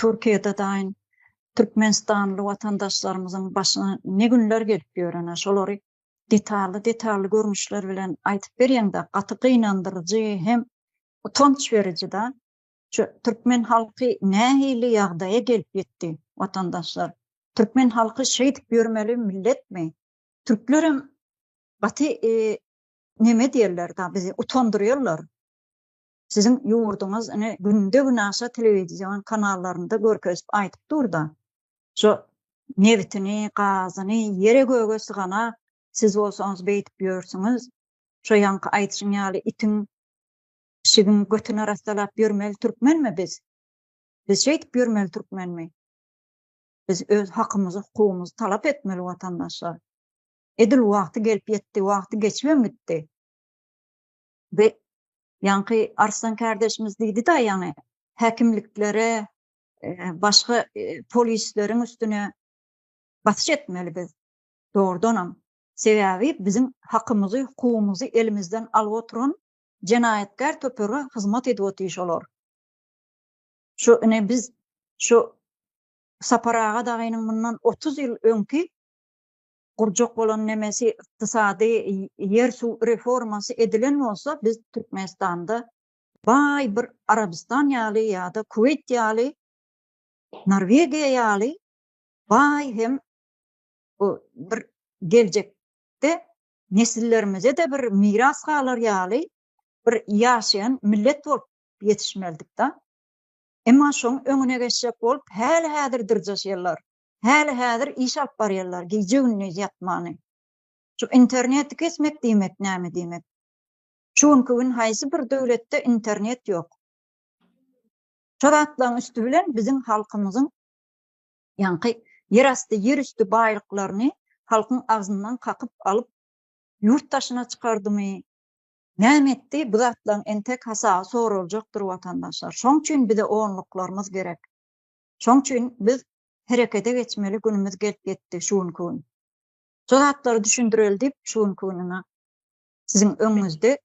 Türkiýede daýyn türkmenistanly watandaşlarymyzyň başyna ne günler gelip ýörene şolary detally detally görnüşler bilen aýtyp berýeňda gaty gynandyryjy hem utanç berijida şu türkmen halky nähili ýagdaýa gelip ýetdi watandaşlar türkmen halky şeýdip ýörmeli milletmi türklerem gaty neme diýerler da bizi utandyrýarlar. Siziň ýurduňyz ine günde-günaşa telewizion kanallarynda görkezip aýdyp dur-da, şo nebitini, gazyny, ýere-göge syganak, siz bolsaňyz beýdip ýörsüňiz, şo ýaňky aýdyşyň ýaly itiň, pişigiň götüni arassalap ýörmeli türkmenmi biz? Biz şeýdip ýörmeli türkmenmi? Biz öz hakymyzy, hukugymyzy talap etmeli watandaşlar. Edil wagty gelip ýetdi, wagty geçibem gitdi. we ýaňky Arslan kärdeşimiz diýdi-de ýaňy häkimliklere başga polisleriň üstüne basyş etmeli biz. Dogrudanam, sebäbi biziň hakymyzy, hukugymyzy elimizden alyp oturan jenaýatkär töpege hyzmat edip otyr şolar. Şu ine biz şu Sapar aga dagynyň mundan otuz ýyl öňki gurjak bolan nemesi ykdysady ýer suw reformasy edilen bolsa biz Türkmenistanda baý bir Arabystan ýaly ýa-da Kuweýt ýaly Norwegiýa ýaly baý hem bir geljek de nesillerimize de bir miras galar ýaly bir ýaşaýan millet bolup ýetişmelidik da. Emma şoň öňüne geçjek bolup häli-häzir dyrjaşýarlar. Häli-häzir iş alyp barýarlar, gije-gündiz ýatmany. Şu interneti kesmek diýmek näme diýmek? Şu günki gün haýsy bir döwletde internet ýok? Şo zatlaryň üsti bilen biziň halkymyzyň ýaňky ýerasty, ýerüsti baýlyklaryny halkyň agzyndan kakyp alyp, ýurt daşyna çykardymy, näme etdi, bu zatlaryň entek hasaby soraljakdyr, watandaşlar. Şoň üçin bize onluklarymyz gerek. Şoň üçin biz herekete geçmeli günümiz gelip ýetdi şu günki gün. Şu zatlary düşündireli diýip şu günki gün ina siziň öňüňizde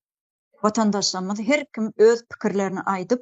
watandaşlarymyz her kim öz pikirlerini aýdyp